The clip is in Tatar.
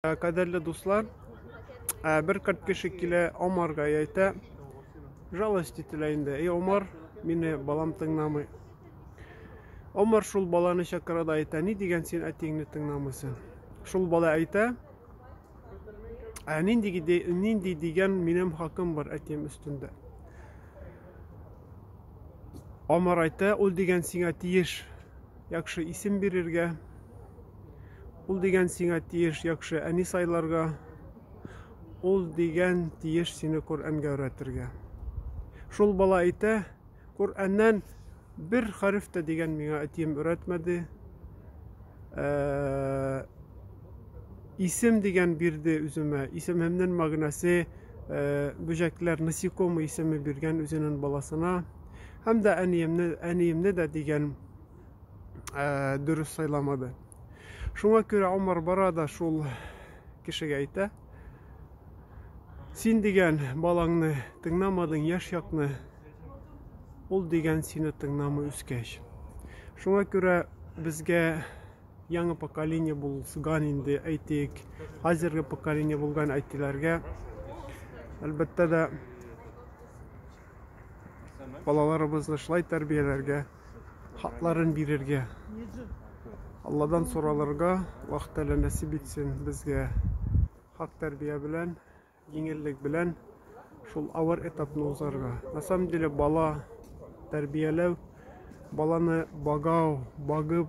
Э, кадерле дуслар, э, бер кырт кеше килә Омарга әйтә, жалость ителә инде. Эй, Омар, мине балам тыңламый. Омар шул баланы чакыра да әйтә, ни дигән син әтиңне тыңламыйсың? Шул бала әйтә, ә нинди, нинди дигән минем хакым бар әтием өстендә. Омар әйтә, ул дигән сиңа тиеш. Яхшы исем бирергә. Ул дигән сиңа тиеш яхшы әни сайларга. Ул дигән тиеш сине Коръәнгә өйрәтергә. Шул бала әйтә, Коръәннән бер хәреф тә дигән миңа әтием өйрәтмәде. Ә, исем дигән бирде үземә. Исемемнең мәгънәсе ә, бөҗәкләр, насекомый исеме биргән үзенең баласына. Һәм дә әниемне, әниемне дә дигән ә, дөрес сайламады. Шуңа күрә Омар бара да шул кешегә әйтә. Син дигән балаңны тыңламадың, яшь якны. Ул дигән сине тыңламый үскәч. Шуңа күрә безгә яңа поколение булган инде әйтик хәзерге поколение булган әтиләргә әлбәттә дә Балаларыбызны шулай тәрбияләргә, хакларын бирергә, Алладан соралырга Аллаһ Тәгалә нәсип итсен безгә хак тәрбия белән, җиңеллек белән шул авыр этапны узарга. На самом деле бала тәрбияләү, баланы багау, багып